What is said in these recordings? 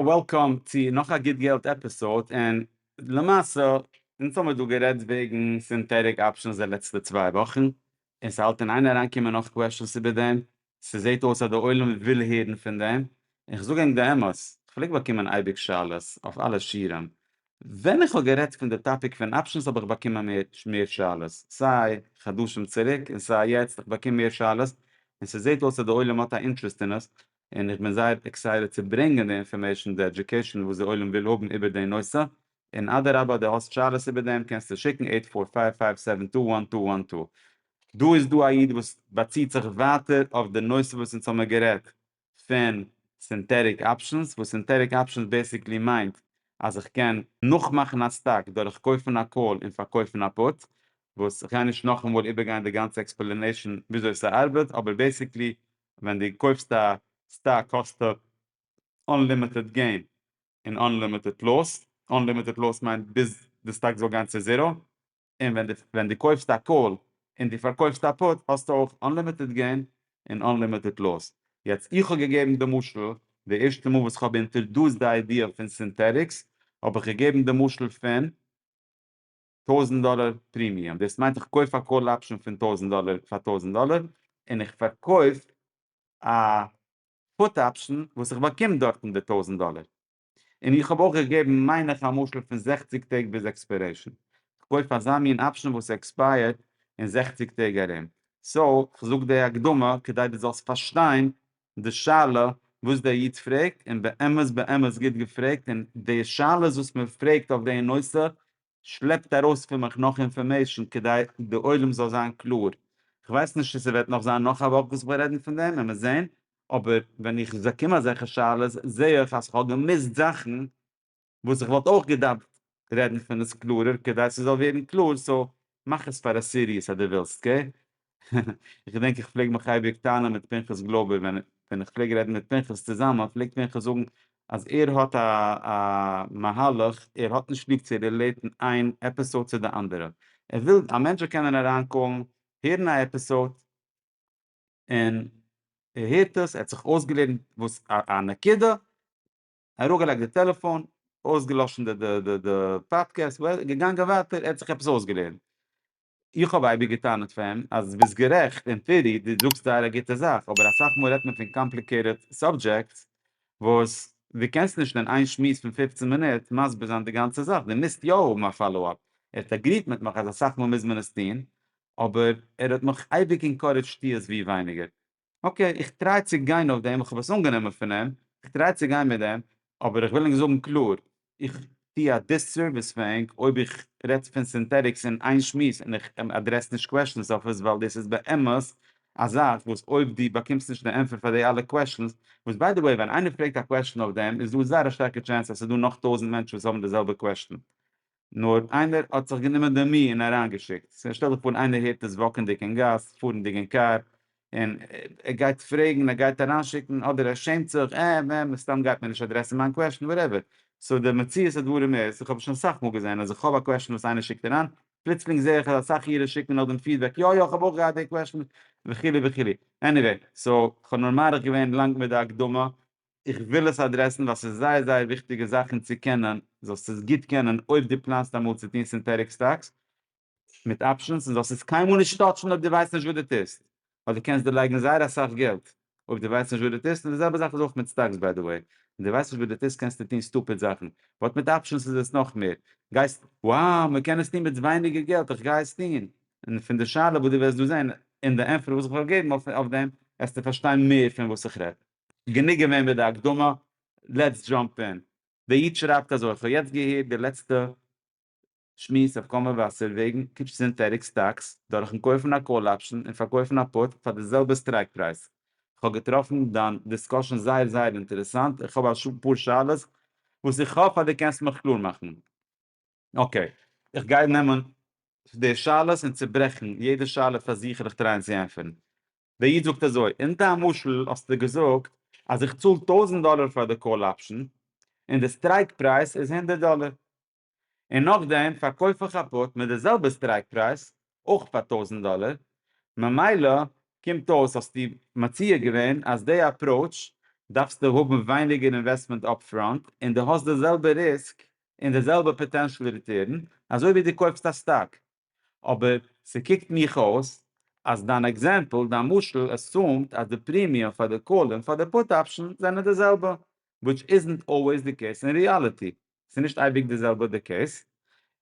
וועלקאם צו נאך א גוט געלט עפיסאוד, און למעשה אונז האמיר דא גערעדט וועגן סינטעטיק אפשענס די לעצטע צוויי וואכן, און ס'האלט אין איין אריינקומען נאך קוועשענס איבער דעם, ס'זעהט אויס אז די עולם וויל הערן פון דעם, און כ'זאג ענק די אמת, כ'פלעג באקומען אייביג שאלות אויף אלע שיערים, ווען איך האב גערעדט פון די טאפיק פון אפשענס האב איך באקומען מער מער שאלות, סיי חדשים צוריק און סיי יעצט, איך באקום מער שאלות, און ס'זעהט אויס אז די עולם האט א אינטרעסט אין עס, און איך בין זייער עקסייטעד צו ברענגען די אינפארמעישאן די עדיוקעישאן וואס די עולם וויל האבן איבער די נושא, און אדרבא די האסט שאלות איבער דעם קענסטו שיקן עיט פאר פייוו פייוו סעווען טו וואן טו וואן טו. דא איז דא א איד וואס באציט זיך ווייטער אויף די נושא וואס אונז האמיר גערעדט פון סינטעטיק אפשענס, וואס סינטעטיק אפשענס בעיסיקלי מיינט אז איך קען נאכמאכן א סטאק דורך קויפן א קאל און פארקויפן א פוט, וואס כ'גיי נישט נאכאמאל איבערגיין די גאנצע עקספלענעישאן וויאזוי ס'ארבעט, אבער בעיסיקלי ווען דו קויפסט א סטאק האסטו אנלימיטעד געין און אנלימיטעד לאס, אנלימיטעד לאס מיינט ביז די סטאק זאל גיין צו זירא, און ווען דו ווען דו קויפסט א קאל און דו פארקויפסט א פוט האסטו אויך אנלימיטעד געין און אנלימיטעד לאס. יעצט איך האב געגעבן די משל, די ערשטע מאל וואס איך האב אינטערדוסט די איידיע פון סינטעטיקס האב איך געגעבן די משל פון. טויזנט דאלער פרימיום, דאס מיינט איך קויף א קאל אפשען פון טויזנט דאלער פאר טויזנט דאלער און איך פארקויף א פוט אפשען וואס איך באקום דארטן די טויזנט דאלער, און איך האב אויך געגעבן מיין איך א משל פון זעכציג טעג ביז עקספיירעישאן, איך קויף אזא מין אפשען וואס עקספייערט אין זעכציג טעג ארום, סאו איך זאג די הקדמה כדי דו זאלסט פארשטיין די שאלה וואס דער איד פרעגט און באמת באמת גוט געפרעגט און די שאלות וואס מען פרעגט אויף די נושא שלעפט ארויס פון מיך נאך אינפארמעישן כדי די עולם זאל זיין קלאר. כ'ווייס נישט צו ס'וועט נאך זיין נאך א וואך וואס כ'וועל רעדן פון דעם, עמער זען, אבער ווען איך באקום אזעלכע שאלות זעה איך אז כ'האב געמיסט זאכן, וואס איך וואלט אויך געדארפט רעדן פון עס קלארער כדי ס'זאל ווערן קלאר, סאו מאך עס פאר א סיריעס אז דו ווילסט, קעי? איך געדענק איך פלעג מיך אייביג טענה'ן מיט פנחס גלויבער ווען ווען איך פלעג רעדן מיט פנחס צוזאמען פלעגט פנחס זאגן אז ער האט א א מהלך ער האט נישט ליב צו רילעיטן איין עפיסאוד צו די אנדערע ער וויל א מענטש זאל קענען אריינקאלן הערן א עפיסאוד און ער הערט עס ער האט זיך אויסגעלערנט וואס א נקודה. אראפגעלייגט די טעלעפאן, אויסגעלאשן די די די פאדקעסט, געגאנגען ווייטער, ער האט זיך עפעס אויסגעלערנט. איך האב אייביג גע'טענה'ט פאר אים אז דו ביסט גערעכט, אין טעארי דו זאגסט זייער א גוטע זאך, אבער אסאך מאל רעדט מען פון קאמפליקעיטעד סאבדזשעקטס וואס דו קענסט נישט אין איין שמועס פון פֿופֿצן מינוט מסביר זיין די גאנצע זאך, דו מוזט יא האבן א פאלא אפ. ער האט אגריעט מיט מיך אז אסאך מאל מוז מען עס טון, אבער ער האט מיך אייביג אינקארעדזשט טו עס ווי ווייניגער. אקעי איך טריי צו גיין אויף דעם, כ'האב עס אנגענומען פון אים, כ'טריי צו גיין מיט דעם, אבער איך וויל ענק זאגן קלאר, איך טו א דיססערוויס פאר ענק אויב איך רעד פון סינטעטיקס אין איין שמועס און איך אדרעס נישט קוועשאנס אויף עס ווייל דאס איז באמת א זאך וואס אויב דו באקומסט נישט די ענטפער פאר די אלע קוועשאנס, וואס ביי די וועי ווען איינער פרעגט א קוועשאן אויף דעם איז דא זייער א שטארקע טשענס אז ס'איז דא נאך טויזענט מענטשן וואס האבן די זעלבע קוועשאן, נאר איינער האט זיך גענומען די מי און אריינגעשיקט. ס'איז שטעל דיך פאר איינער הערט עס וואקענדיג אין גאס, פארענדיג אין קאר, און ער גייט פרעגן, ער גייט אריינשיקן, אדער ער שעמט זיך, אה, מ מ, סתם גייט מען נישט אדרעסן מיין קוועשן, וואטעווער. סאו די מציאות הדברים איז, איך האב עס שוין אסאך מאל געזען, אז איך האב א קוועשן וואס איינער שיקט אריין, פלוצלינג זע איך אז אסאך אירע שיקן נאך דעם פידבעק, יא יא, איך האב אויך געהאט די קוועשן, וכו' וכו'. עניוועי, סאו, כ'האב נאר מאריך געווען לאנג מיט די הקדמה, איך וויל עס אדרעסן ווייל ס'איז זייער זייער וויכטיגע זאכן צו קענען, זאלסט עס גוט קענען אויב דו פלאנסט אמאל צו טון סינטעטיק סטאקס מיט אפשענס און זאלסט עס קיינמאל נישט טאטשן אויב דו ווייסט נישט וואס דו טוסט ווייל דו קענסט דערלייגן זייער אסאך געלט אויב דו ווייסט נישט וואס דו טוסט און די זעלבע זאך איז אויך מיט סטאקס ביי די וועי ווען דו ווייסט נישט וואס דו טוסט קענסטו טון סטופיד זאכן באט מיט אפשענס איז עס נאך מער גייסט wow מ'קען עס טון מיט ווייניגער געלט איך גיי עס טון און פון די שאלה וואס דו וועסט דא זען און די ענפער וואס איך וועל געבן אויף דעם עסטו פארשטיין מער פון וואס איך רעד. גענוג געווען מיט די הקדמה, לעטס דזשאמפ אין. דער איד שרייבט אזוי, כ'האב יעצט געהערט די לעצטע שמועס אויף קאמא וואסער וועגן קיפ סינטעטיק סטאקס דורכ'ן קויפן א קאל אפשן און פארקויפן א פוט פאר די זעלבע סטרייק פרייז. כ'האב געטראפן דיין דיסקאשען זייער זייער אינטערעסאנט, איך האב א פאר שאלות וואס איך האף אז דו קענסט מיך קלאר מאכן. אקעי, איך גיי נעמען די שאלות און צוברעכן יעדע שאלה פאר זיך און איך טרייען צו ענטפערן. דער איד זאגט אזוי, אין דיין משל האסטו געזאגט אז איך צאל טויזנט דאלער פאר די קאל אפשען, און די סטרייק פרייז איז הונדערט דאלער, און נאכדעם פארקויף איך א פוט מיט די זעלבע סטרייק פרייז, אויך פאר טויזנט דאלער, ממילא קומט אויס האסטו מציע געווען אז די אפראוטש דארפסטו האבן ווייניגער אינוועסטמענט אפפראנט און די האסט די זעלבע ריסק און די זעלבע פאטענשעל ריטערן אזוי ווי די קויפסט א סטאק. אבער ס'קוקט מיך אויס אז דיין עקזעמפל, דיין משל, עסיומד אז די פרימיום פאר די קאל און פאר די פוט אפשן זענען די זעלבע, וויטש איזנט אלוועיס די קעיס אין ריאליטי. ס'איז נישט אייביג די זעלבע די קעיס.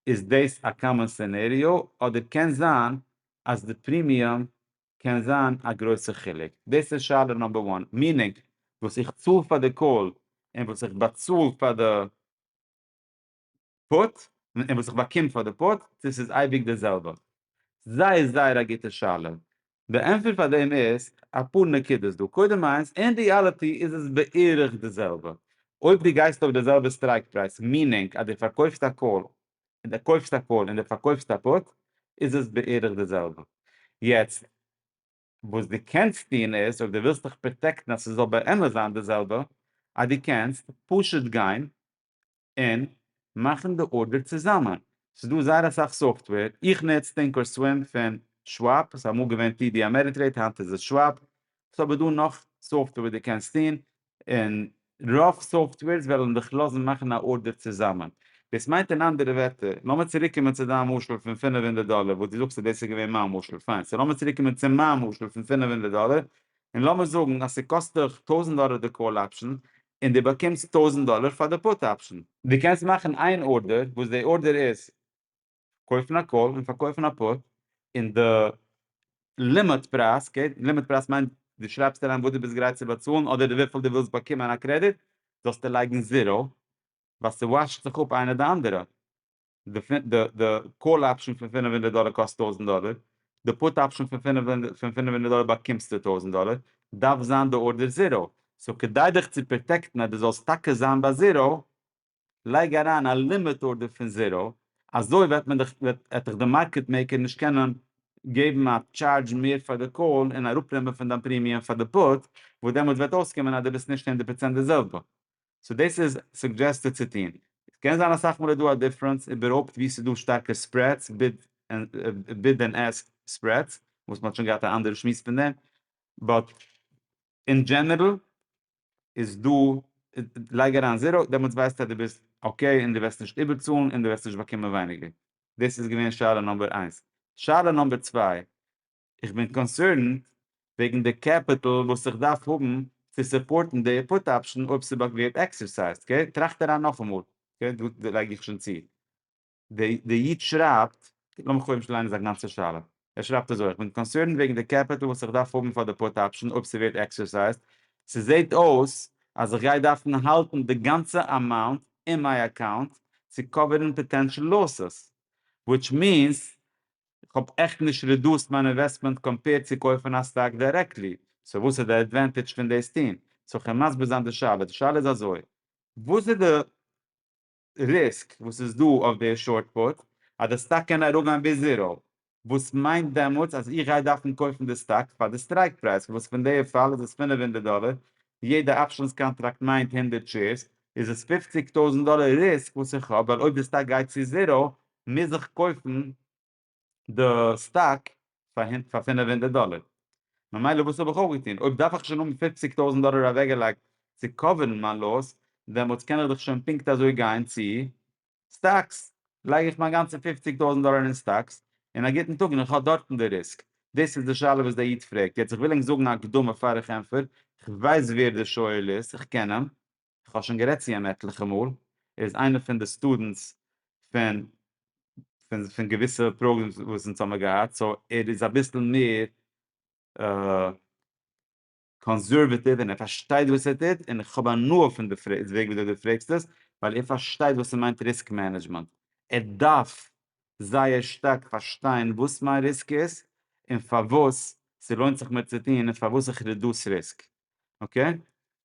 איז דאס א קאמאן סענעריאו אדער קען זיין אז די פרימיום קען זיין א גרויסע חילוק? דאס איז שאלה נאמבער וואן. מינינג, וואס איך צאל פאר די קאל און וואס איך באצאל פאר די. פארט און וואס איך באקום פאר די פארט דאס איז אייביג די זעלבע? זייער זייער א גוטע שאלה. די ענטפער פאר דעם איז אפאר נקודות דא, קודם איינס, אין ריאליטי איז עס בערך די זעלבע, אויב דו גייסט אויף די זעלבע סטרייק פרייז, מינינג אז דו פארקויפסט א קאל און דו קויפסט א פארט און דו פארקויפסט א פוט איז עס בערך די זעלבע. יעצט וואס דו קענסט טון איז, אויב דו ווילסט דיך פראטעקטן אז ס'זאל באמת זיין די זעלבע, אז דו קענסט פשוט גיין און מאכן די ארדער צוזאמען. ס'איז דא זייער אסאך סאפטוועיר, איך נוץ טינקערסווים פון שוואפ, ס'איז אמאל געווען טי די אמעריטרעיד היינט איז עס שוואפ, ס'איז אבער דא נאך סאפטוועיר וואס דו קענסט טון, און רוב סאפטוועירס וועלן דיך לאזן מאכן א ארדער צוזאמען. דאס מיינט אין אנדערע ווערטער, לאמיר צוריק קומען צו דיין משל פון פֿינף הונדערט דאלער וואס דו זאגסט אז דאס איז געווען מיין משל, פיין, סאו לאמיר צוריק קומען צו מיין משל פון פֿינף הונדערט דאלער, און לאמיר זאגן אז ס'קאסט דיך טויזנט דאלער די קאל אפשען, און דו באקומסט טויזנט דאלער פאר די פוט אפשען. דו קענסט מאכן איין ארדער, וואס די ארדער איז קויפן א קאל און פארקויפן א פוט, און די לימיט פרייז, אקעי, לימיט פרייז מיינט דו שרייבסט אריין וואס דו ביסט גרייט צו באצאלן אדער וויפיל דו ווילסט באקומען א קרעדיט, זאלסטו לייגן זיראו, ווייל ס'וואשט זיך אפ איינע די אנדערע. די קאל אפשען פון פֿינף הונדערט דאלער קאסט טויזענט דאלער, די פוט אפשען פון פֿינף הונדערט דאלער באקומסטו טויזענט דאלער, דארף זיין די ארדער זיראו, סאו כדי דיך צו פראטעקטן אז די זאלסט טאקע זיין ביי זיראו, לייג אריין א לימיט ארדער פון זיראו, אזוי וועט מען דיך, וועט דיך די מארקעט מעיקער נישט קענען געבן א טשארדזש מער פאר די קאל און אראפנעמען פון דיין פרימיום פאר די פוט, וואס דעמאלטס וועט אויסקומען אז די ביסט נישט הונדערט פראצענט די זעלבע. סאו דאס איז סוגדזשעסטעד צו טון. עס קען זיין אסאך מאל איז דא א דיפרענס איבערהויפט וואו ס'איז דא שטארקע ספרעדס, ביד ענד עסק ספרעדס, וואס מ'האט שוין געהאט א אנדערע שמועס פון דעם, באט אין דזשענערל איז דא, לייג אריין זיראו דעמאלטס ווייסטו אז דו ביסט אקעי און דו וועסט נישט איבערצאלן און דו וועסט נישט באקומען ווייניגער. דאס איז געווען שאלה נומבער איינס. שאלה נומבער צוויי איך בין קאנסערנד וועגן די קעפיטל וואס איך דארף האבן צו סופארטן די פוט אפשן אויב ס'וועט ווערט עקסערסייזד, אקעי? טראכט אריין נאכאמאל, אקעי? דא לייג איך שוין צו. די איד שרייבט, לאמיר קודם נישט ליינען זיין גאנצע שאלה, ער שרייבט אזוי, איך בין קאנסערנד וועגן די קעפיטל וואס איך דארף האבן פאר די פוט אפשן אויב ס'ווערט עקסערסייזד, ס'זעהט אויס אז איך גיי דארפן האלטן די גאנצע אמאונט אין מיי אקאונט צו קאווערן פאטענשל לאסעס, וויטש מיענס איך האב עכט נישט רעדוסט מיין אינוועסטמענט קאמפעירד צו קויפן א סטאק דירעקטלי, סאו וואס איז די עדווענטעדזש פון דאס טוהן? זאל איך מסביר זיין די שאלה, די שאלה איז אזוי. וואס איז די ריסק וואס איז דא אויף די שארט פוט אז די סטאק קען אראפגיין ביז זיראו, וואס מיינט דעמאלטס אז איך גיי דארפן קויפן די סטאק פאר די סטרייק פרייז וואס פון די פאל איז עס פֿינף הונדערט דאלער, יעדע אפשענס קאנטראקט מיינט הונדערט שעירס, איז עס פֿופֿציק טויזענט דאלער ריסק וואס איך האב ווייל אויב די סטאק גייט צו זיראו מוז איך קויפן די סטאק פאר פאר פינף הונדערט דאלער, ממילא וואס האב איך אויפגעטון? אויב דארף איך שוין האבן פופציג טויזנט דאלער אוועקגעלייגט צו קאווערן מיין לאס, דעמאלטס קען איך דאך שוין פונקט אזוי גיין צו סטאקס, לייג איך מיין גאנצע פופציג טויזנט דאלער אין סטאקס, און א גוטן טאג און איך האב דארטן די ריסק? דאס איז די שאלה וואס דער איד פרעגט, יעצט איך וויל ענק זאגן א הקדמה פאר איך ענטפער, איך ווייס ווער דער שואל איז, איך קען אים. איך האב שוין גערעדט צו אים עטליכע מאל, ער איז איינער פון די סטודענטס פון פון געוויסע פראגרעמס וואס אונז האמיר געהאט, סאו ער איז אביסל מער קאנסערוועטיוו און ער פארשטייט וואס ער טוט, און איך האב הנאה פון די פרעג וועג וויאזוי דו פרעגסט עס, ווייל ער פארשטייט וואס ס'מיינט ריסק מענעדזשמענט, ער דארף זייער שטארק פארשטיין וואס מיין ריסק איז, און פארוואס ס'לוינט זיך מיר צו טון, און פארוואס איך רעדוס ריסק. אקעי?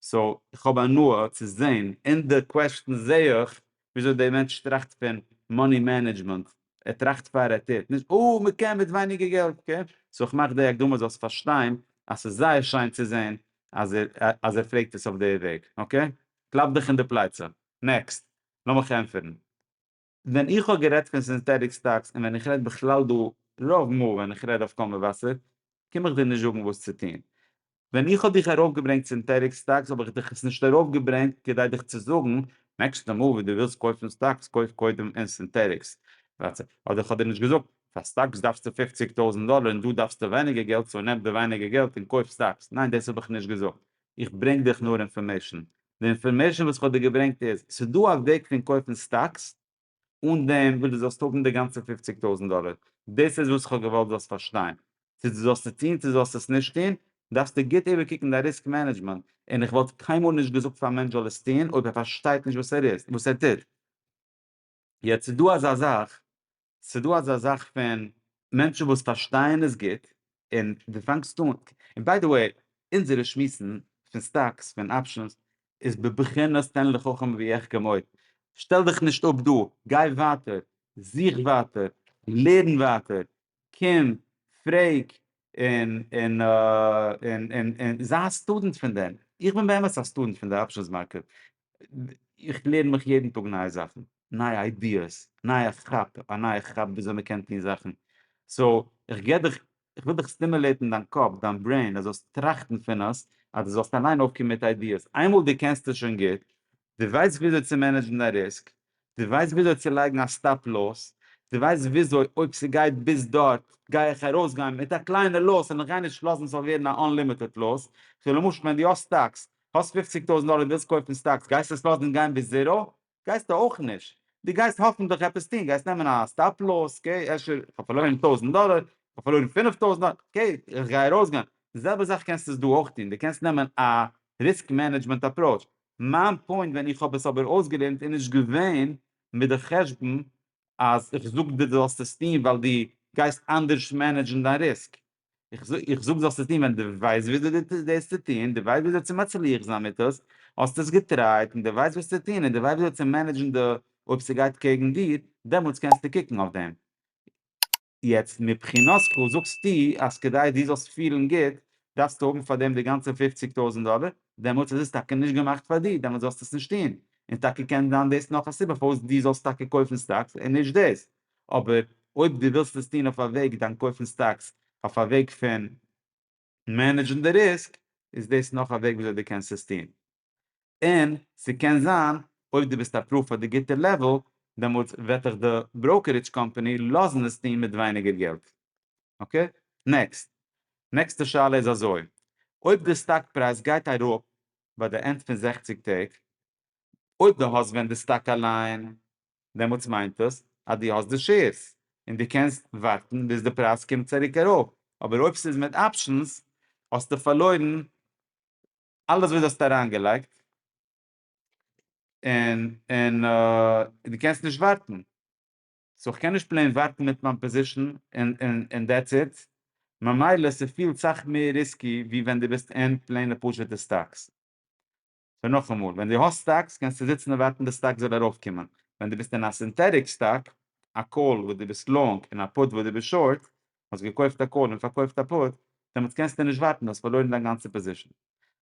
סאו איך האב הנאה צו זעהן אין די קוועסטשען זעה איך וויאזוי די מענטש טראכט פון מאני מענעדזשמענט, ער טראכט פאר ער טוט, נישט אה מ'קען מיט ווייניגער געלט, אקעי? סאו איך מאך די הקדמה זאלסט פארשטיין אז ס'איז זייער שיין צו זעהן אז ער אז ער פרעגט עס אויף די וועג, אקעי? קלאפ דיך אין די פלייצע. נעקסט, לאמיך ענטפערן. ווען איך האב גערעדט פון סינטעטיק סטאקס און ווען איך רעד בכלל דא, רוב מאל ווען איך רעד אויף קול מבשר, קום איך דיר נישט זאגן וואס צו טון. ווען איך האב דיך ארויפגעברענגט סינטעטיק סטאקס האב איך דיך עס נישט ארויפגעברענגט כדי דיך צו זאגן, נעקסטע מאל וואס דו ווילסט קויפן סטאקס קויף קודם אין סינטעטיקס. אדער איך האב דיר נישט געזאגט, פאר סטאקס דארפסטו פופציג טויזנט דאלער און דא דארפסטו ווייניגער געלט סאו נעם די ווייניגער געלט און קויף סטאקס. ניין דאס האב איך נישט געזאגט. איך ברענג דיך נאר אינפארמעישן. די אינפארמעישן וואס כ'האב דיר געברענגט איז, ס'איז דא א וועג פון קויפן סטאקס אן דעם וואס דו זאלסט האבן די גאנצע פופציג טויזנט דאלער, דאס איז וואס כ'האב געוואלט זאלסט פארשטיין, צו דו זאלסט עס טון צו דו זאלסט עס נישט טון, דארפסטו גוט איבערקוקן דיין ריסק מענעדזשמענט, און איך וואלט קיינמאל נישט געזאגט פאר א מענטש זאל עס טון אויב ער פארשטייט נישט וואס ער איז וואס ער טוט. יעצט ס'איז דא אזא זאך, ס'איז דא אזא זאך פון מענטשן וואס פארשטייען עס גוט, און דו פאנגסט אן, און ביי די וועי, אונזערע שמועסן פון סטאקס, פון אפשענס, איז בבחינת תן לחכם ויחכם עוד, שטעל דיך נישט אפ דא, גיי ווייטער, זוך ווייטער, לערן ווייטער, קום, פרעג, און, און, און, און, און זיי א סטודענט פון דעם, איך בין באמת א סטודענט פון די אפשענס מארקעט, איך לערן מיך יעדן טאג נייע זאכן, נייע איידיעס, נייע כאפ, א נייע כאפ ווי אזוי מען קען טון זאכן, סאו איך געב דיך, איך וויל דיך סטימולעטן דיין קאפ, דיין ברעין, אז זאלסט טראכטן פון עס, אז דו זאלסט אליין אויפקומען מיט איידיעס, איינמאל דו קענסט עס שוין גוט, דו ווייסט ווי אזוי צו מענעדזשן דיין ריסק, דו ווייסט וויאזוי צו לייגן א סטאפ לאס? דו ווייסט וויאזוי אויב ס'גייט ביז דארט גיי איך ארויסגיין מיט א קליינע לאס און איך גיי נישט לאזן ס'זאל ווערן א אנלימיטעד לאס? סאו למשל ווען דו האסט סטאקס, האסט פופציג טויזנט דאלער און ווילסט קויפן סטאקס גייסטו עס לאזן גיין ביז זירא? גייסטו אויך נישט. דו גייסט האפענטליך עפעס טון, גייסט נעמען א סטאפ לאס, אקעי אפשר איך האב פארלוירן טויזנט דאלער, איך האב פארלוירן פינף טויזנט דאלער, אקעי איך גיי ארויסגיין. די זעלבע זאך קענסטו עס דא אויך טון, דו קענסט נעמען א ריסק מענעדזשמענט אפראוטש, מיין פוינט ווען איך האב עס אבער אויסגעלערנט איז נישט געווען מיט די חשבון אז איך זאג דיר דו זאלסט עס טון ווייל דו גייסט אנדערש מענעדזשן דיין ריסק, איך זאג דו זאלסט עס טון ווען דו ווייסט וויאזוי דאס צו טון, דו ווייסט וויאזוי צו מצליח זיין מיט עס, האסט עס געטרייט און דו ווייסט וואס צו טון און דו ווייסט וויאזוי צו מענעדזשן די אויב ס'גייט קעגן דיר, דעמאלטס קענסטו קוקן אויף דעם. יעצט מבחינתך זאגסטו אז כדי דו זאלסט פילן גוט דארפסטו האבן פאר דעם די גאנצע פופציג טויזנט דאלער, דעמאלטס איז עס טאקע נישט געמאכט פאר דיר, דעמאלטס זאלסטו עס נישט טון, און טאקע קען זיין דאס נאך א סיבה פארוואס דו זאלסט טאקע קויפן סטאקס און נישט דאס, אבער אויב דו ווילסט עס טון אויף א וועג, דאן קויפן סטאקס אויף א וועג פון. מענעדזשן די ריסק איז דאס נאך א וועג וויאזוי דו קענסט עס טון, און ס'קען זיין אויב דו ביסט אפראווד פאר די גוטע לעוועל דעמאלטס וועט דיך די בראוקערידזש קאמפאני לאזן עס טון מיט ווייניגער געלט. אקעי נעקסט. נעקסטע שאלה איז אזוי, אויב די סטאק פרייז גייט אראפ ביי די ענד פון זעכציק טעג, אויב דו האסט ווען די סטאק אליין דעמאלטס מיינט עס אז דו האסט די שעירס און דו קענסט ווארטן ביז די פרייז קומט צוריק ארויף, אבער אויב ס'איז מיט אפשענס האסטו פארלוירן אלעס וואס דו האסט אריינגעלייגט און און דו קענסט נישט ווארטן, סאו איך קען נישט פלעין ווארטן מיט מיין פאזישן און און און דעטס איט, ממילא ס'פילט סאך מער ריסקי ווי ווען דו ביסט אין פלעינע פשוטע סטאקס. סאו נאכאמאל, ווען דו האסט סטאקס קענסטו זיצן און ווארטן די סטאק זאל ארויפקומען, ווען דו ביסט אין א סינטעטיק סטאק, א קאל וואס דו ביסט לאנג און א פוט וואס דו ביסט שארט, האסט געקויפט א קאל און פארקויפט א פוט, דעמאלטס קענסטו נישט ווארטן, דו האסט פארלוירן דיין גאנצע פאזישן.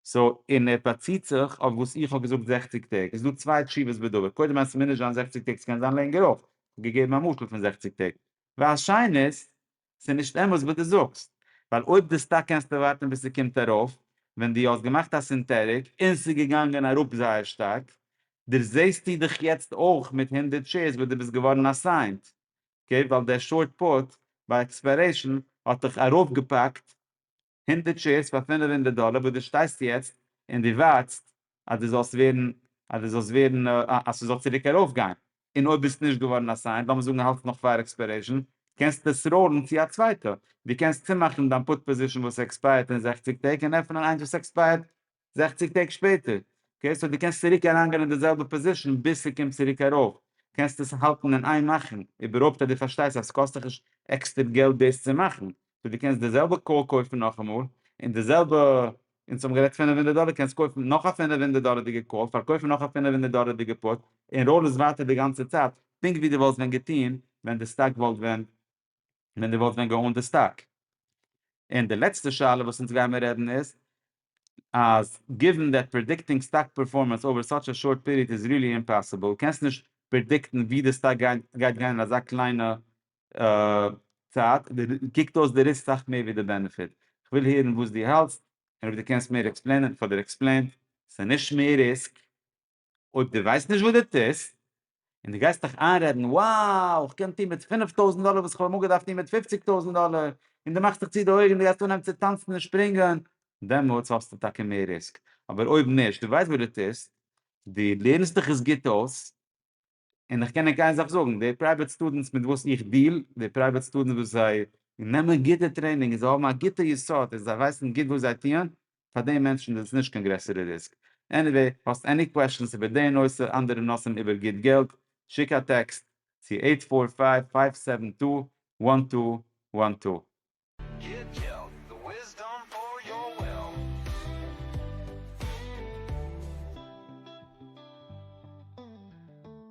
סאו, און ער באציט זיך אויף וואס איך האב געזאגט זעכציג טעג, איז דא צוויי תשובות בדבר, קודם אז ס'מוז נישט זיין זעכציג טעג ס'קען זיין לענגער אויך, כ'האב געגעבן א משל פון זעכציג טעג, והשנית, ס'איז נישט אמת וואס דו זאגסט, ווייל אויב די סטאק קענסטו ווארטן ביז ס'קומט ארויף, ווען דו האסט געמאכט א סינטעטיק און ס'איז געגאנגען אראפ זייער שטארק, דערזעהסטו דיך יעצט אויך מיט הונדערט שעירס וואס דו ביסט געווארן אסיינט, אקעי, ווייל דער שארט פוט ביי עקספיירעישן האט דיך ארויפגעפאקט הונדערט שעירס פאר פינף הונדערט דאלער וואס דו שטייסט יעצט און דו ווארטסט אז דו זאלסט ווערן אז דו זאלסט ווערן אז ס'זאל צוריק ארויפגיין און אויב ביסט נישט געווארן אסיינד לאמיר זאגן האלטסט נאך פאר עקספיירעישן קענסטו עס ראלן צו א צווייטע דו קענסט צומאכן דיין פוט פאזישן וואס עקספייערט אין זעכציק טעג און עפענען איינס וואס עקספייערט זעכציג טעג שפעטער, אקעי, סאו דו קענסט צוריק אריינגיין אין די זעלבע פאזישן ביז ס'קומט צוריק ארויף, קענסט עס האלטן אין איין מאכן, איבערהויפט אז דו פארשטייסט אז ס'קאסט דיך נישט עקסטער געלט דאס צו מאכן, סאו דו קענסט די זעלבע קאר קויפן נאכאמאל, און די זעלבע, אונז האבן גערעדט פינף הונדערט דאלער, קענסט קויפן נאך א פינף הונדערט דאלערדיגע קאר, פארקויפן נאך א פינף הונדערט דאלערדיגע פוט, און ראול עס ווייטער די גאנצע צייט, פונקט ווי דו וואלסט ווען געטון ווען די סטאק וואלט ווען ווען די וואלסט ווען געאונט די סטאק. און די לעצטע שאלה וואס אונז גיימער רעדן איז, אז גיווען דעט פרעדיקטינג סטאק פערפארמענס אווער סאטש א שארט פיריעד איז ריעלי אימפאסיבל, קענסט נישט פרעדיקטן ווי די סטאק גייט גיין אין אזא קליינע צייט, קוקט אויס די ריסק סאך מער ווי די בענעפיט. כ'וויל הערן וואס דו האלטסט, און אויב דו קענסט מער עקספלעינען, פאדער עקספלעינט. ס'נישט מער ריסק, אויב דו ווייסט נישט וואס דו טוסט, און דו גייסט דיך איינרעדן, וואו, איך קען טון מיט פינף טויזנט דאלער וואס איך האב אמאל געדארפט טון מיט פופציג טויזנט דאלער, און דו מאכסט דיך צו די אויגן, דו גייסט אנהייבן צו טאנצן און שפרינגען, דעמאלטס האסטו טאקע מער ריסק. אבער אויב נישט, דו ווייסט וואס דו טוסט, דו לערנסט דיך עס גוט אויס, און איך קען ענק איין זאך זאגן, די פרייוועט סטודענטס מיט וואס איך דיעל, די פרייוועט סטודענטס וואס זיי נעמען גוטע טרעינינג און זיי האבן א גוטע יסוד און זיי ווייסן גוט וואס זיי טוען, פאר די מענטשן איז עס נישט קיין גרעסערע ריסק. עניוועי, האסט עני קוועשאנס איבער די נושא, אנדערע נושאים איבער גוט געלט, שיק א טעקסט צו עיט פאר פייוו פייוו סעווען טו וואן טו וואן טו. Good Geld, the wisdom for your wealth.